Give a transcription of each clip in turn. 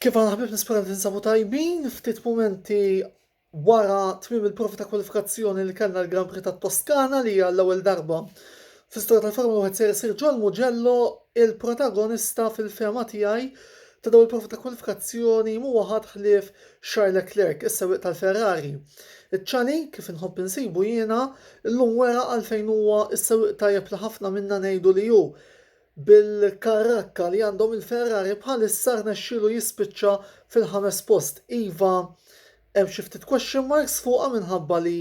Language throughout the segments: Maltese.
Kif għana ħbib nispera li tinsabu tajbin, ftit momenti wara tmim il-provi ta' kwalifikazzjoni li kellna l-Grand Prix ta' Toskana li hija l-ewwel darba fl-istorja tal-Formula 1 ser isir John Mugello il-protagonista fil-fema tiegħi ta' dawn il-provi ta' kwalifikazzjoni mhuwa ħadd ħlief Charles Leclerc, is-sewwieq tal-Ferrari. Iċ-ċali, kif inħobb insibu jiena, illum wera għalfejn huwa s-sewwieq tajjeb li ħafna minna ngħidu li hu. Bil-karrakka li għandhom il-Ferrari bħalissa rnexxielu jispiċċa fil-ħames post. Iva, hemm xi ftit question marks fuqha minħabba li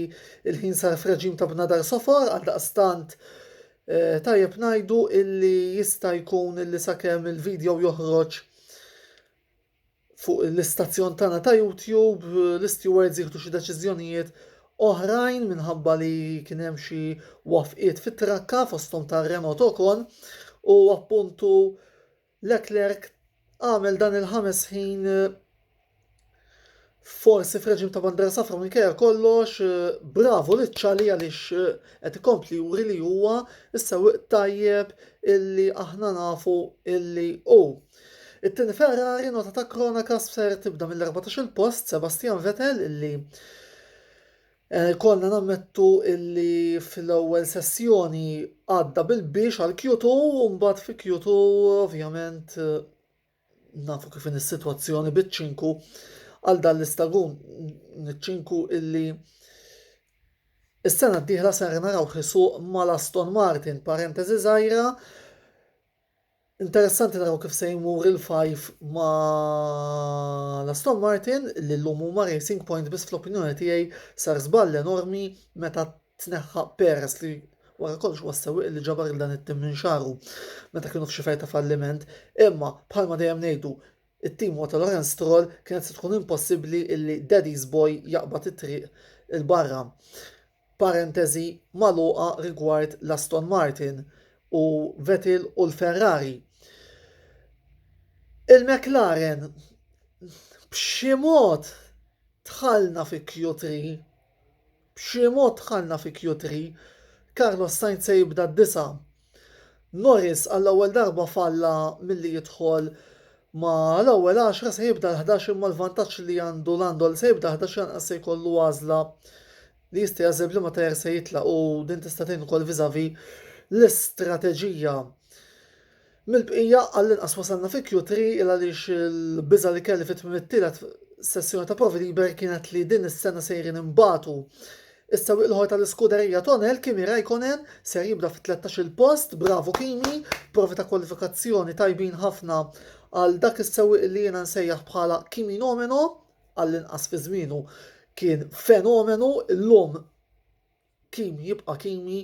l-ħin sar f'reġim ta' bnadar sofar għaldaqstant tajjeb ngħidu illi jista' jkun illi sakemm il-video joħroġ fuq l-istazzjon tagħna ta' YouTube l-istewards jieħdu xi deċiżjonijiet oħrajn minħabba li kien hemm xi wafqiet fit-trakka fosthom ta' Renault Ocon u appuntu Leclerc għamel dan il-ħames ħin Forsi f'reġim ta' bandiera safra minkejja kollox, bravo li ċali għaliex qed ikompli juri li huwa s-sewwieq tajjeb illi aħna nafu illi hu. It-tieni Ferrari nota ta' kronaka ser tibda mill-14 post Sebastian Vettel illi eh, konna nammettu illi fl-ewwel sessjoni għadda bil-biex għal Q2 u mbagħad fi Q2 ovvjament Nafu kif in is-sitwazzjoni biċ-ċinku għal dan l-istagun. Ċinku illi Is-sena d-dieħla ser naraw ħisuq mal-Aston Martin, parentesi żgħira, Interessanti naraw kif se jmur il-fajf ma l-Aston Martin li l-lum huma Racing Point biss fl-opinjoni tiegħi sar żball enormi meta tneħħa pereż li wara kollox huwa s-sewwieq li ġabar lil dan it-tim minn xagħru meta kienu f'xi fergħa ta' falliment, imma bħalma dejjem ngħidu it-tim huwa ta' Lawrence Stroll kienet se tkun impossibbli illi Daddy's Boy jaqbad it-triq 'il barra. Parenteżi magħluqa rigward l-Aston Martin u Vettel u l-Ferrari. Il-McLaren b'xi mod dħalna fi Q3 B'xi mod dħalna fi Q3, Carlos Sainz se jibda d-disa'. Norris għall-ewwel darba falla milli jidħol ma' l-ewwel għaxra se jibda l-ħdax imma l-vantaġġ li għandu Lando li se jibda l-ħdax lanqas se jkollu għażla li jista' jagħżel b'liema tajer se jitlaq u din tista' tgħin ukoll vis-a-vis l-istrateġija. Mill-bqija, għall-inqas wasalna fi Q3 il għaliex il-biża' li kelli fi tmiem it-tielet sessjoni ta' provi liber kienet li din is-sena sejrin inbatu. Is-sewwieq l-ieħor tal-Iskuderija Tonel, Kimi Raikkonen, ser jibda fit-tlettax-il post, bravu Kimi, provi ta' kwalifikazzjoni tajbin ħafna għal dak is-sewwieq li jiena nsejjaħ bħala Kiminomeno, għall-inqas fi żmienu kien fenomenu, illum, Kimi jibqa' Kimi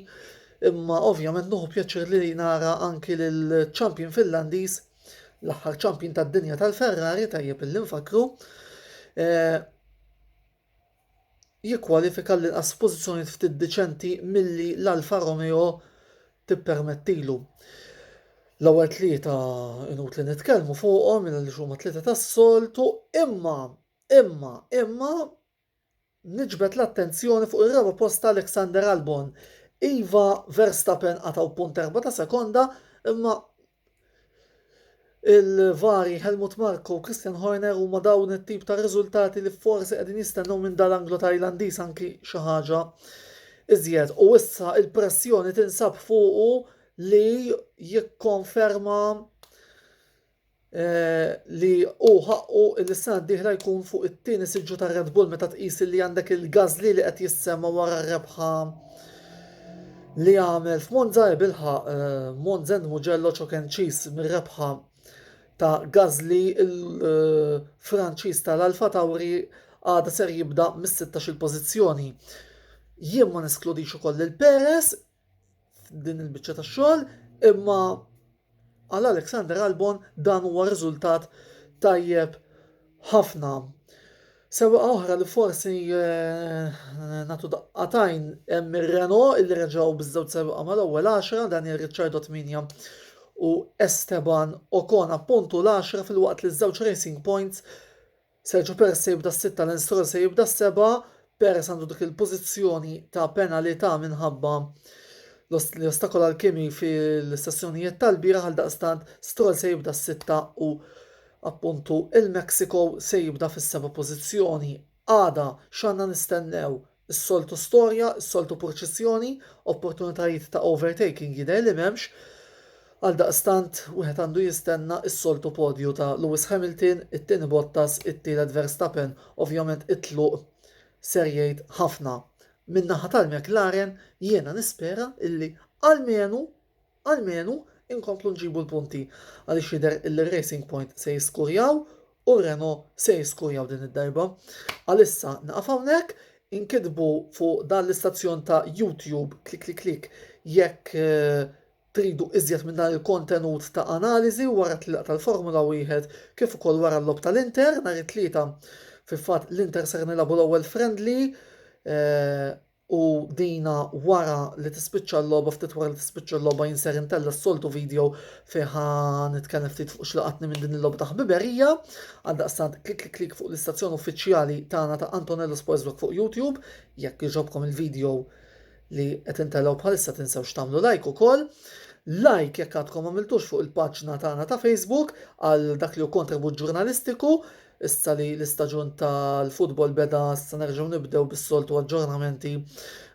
imma ovvjament nuħu pjaċir li nara anki lill-champion Finlandiż, l-aħħar champion tad-dinja tal-Ferrari tajjeb illi nfakkru, eh, jikkwalifika l-inqas f'pożizzjonijiet ftit diċenti milli l-Alfa Romeo tippermettilu. L-ewwel tlieta inut li nitkellmu fuqhom minn li huma tlieta tas-soltu imma imma imma Niġbed l-attenzjoni fuq ir-raba' post ta' Alexander Albon. Iva, Verstappen qatgħu punt erba' ta' sekonda, imma il-vari Helmut Marko u Christian Horner huma dawn it-tip ta' riżultati li forsi qegħdin jistennew minn dan l-Anglo Tajlandiż anki xi ħaġa iżjed. U issa il-pressjoni tinsab fuqu li jikkonferma eh, li hu ħaqqu li s-sena d-dieħla jkun fuq it-tieni siġġu ta' Red Bull meta tqis li għandek il-Gazli li qed jissemma wara r-rebħa li għamel f'Monza e bilħa eh, Monzen Mugello ċokenċis mir-rebħa ta' Gazli il-Franċiż eh, tal-Alfa Tauri għada ser jibda mis-16 il-pożizzjoni. Jien ma neskludix ukoll il-Peres f'din il-biċċa ta' xogħol, imma għal Alexander Albon dan huwa riżultat tajjeb ħafna. Sewa oħra li forsi eh, natu daqqatajn hemm ir-Reno illi reġgħu biż-żewġ sewqa mal-ewwel 10 Daniel Ricciardo 8 u Esteban Ocon appuntu l-10 fil-waqt li ż-żewġ Racing Points Sergio Perez se jibda s-sitta, Lance Stroll se jibda s-sebgħa, Perez għandu dik il-pożizzjoni ta' penalità minħabba li ostakola l-Kimi fil-sessjonijiet tal-bieraħ għaldaqstant Stroll se jibda s-sitta u appuntu il-Mexico se jibda fis-seba' pożizzjoni. Għada x'għandna nistennew? Is-soltu storja, is-soltu purċissjoni, opportunitajiet ta' overtaking jidher li m'hemmx, għaldaqstant wieħed għandu jistenna is-soltu podju ta' Lewis Hamilton, it-tieni Bottas, it-tielet Verstappen, ovvjament it-tluq ser jgħid ħafna. Min-naħa tal-McLaren jiena nispera illi almenu Almenu inkomplu nġibu l-punti għaliex jidher li r-Racing Point se jiskurjaw u r-Renault se jiskurjaw din id-darba. Għalissa nieqaf hawnhekk, inkitbu fuq dan l-istazzjon ta' YouTube klikklikklikk jekk tridu iżjed minn dan il-kontenut ta' analiżi wara t-tlieqa tal-Formula Wieħed kif ukoll wara l-logħob tal-Inter nhar it-Tlieta. Fil-fatt l-Inter ser nilagħbu l-ewwel friendly u dina wara li tispiċċa l-logħba ftit wara li tispiċċa l-logħba jien ser intella' s-soltu video fejn ħa nitkellem ftit fuq x'laqatni minn din il-logħba ta' ħbiberija. Għaldaqstant klik klik klik fuq l-istazzjon uffiċjali tagħna ta' Antonello Sportsblog fuq YouTube jekk iġobkom il-video li qed intellgħu bħalissa tinsewx tagħmlu like ukoll. Like jekk għadkom għamiltux fuq il-paġna tagħna ta' Facebook għal dak li hu kontribut ġurnalistiku Issa li l-istaġun tal-futbol beda se nerġgħu nibdew bis-soltu aġġornamenti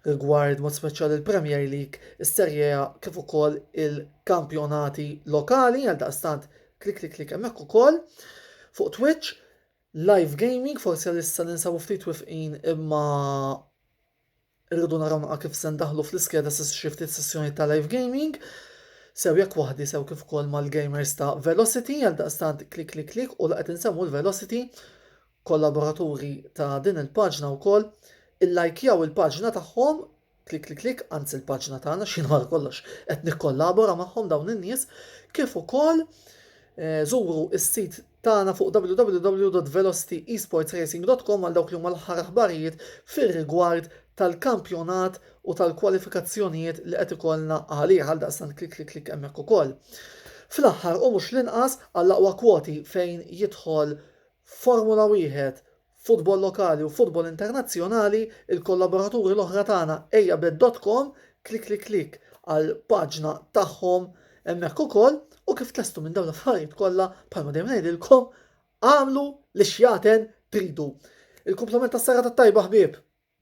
rigward mod speċjali il-Premier League, is-Serie A kif ukoll il-kampjonati lokali għal daqstant klik klik klik hemmhekk ukoll fuq Twitch live gaming forsi għalissa ninsabu ftit wifqin imma Irridu naraw naqra kif se ndaħħlu fl-iskeda xi ftit sessjonijiet ta' live gaming, sew jekk waħdi sew kif ukoll mal-gamers ta' Velocity, għaldaqstant klik klik klik u la qed insemmu l-Velocity, kollaboraturi ta' din il-paġna wkoll, illajkjaw il-paġna tagħhom, klik klik klik, anzi l-paġna tagħna x'jien wara kollox qed nikkollabora magħhom dawn in-nies, kif ukoll żuru s-sit tagħna fuq www.velocityEsportsRacing.com għal dawk li huma l-aħħar aħbarijiet fir-rigward tal-kampjonat u tal-kwalifikazzjonijiet li qed ikollna għalih, għaldaqstant klik klik klik hemmhekk ukoll. Fl-aħħar u mhux l-inqas għall-aqwa kwoti fejn jidħol Formula Wieħed f'futbol lokali u f'futbol internazzjonali, il-kollaboraturi l-oħra tagħna Ejjabed dot com, klikklikklikk għal paġna tagħhom hemmhekk ukoll u kif tlestu minn dawn l-affarijiet kollha bħalma dejjem ngħidilkom agħmlu li xjaten tridu. Il-kumplament tas-serata t-tajba ħbieb!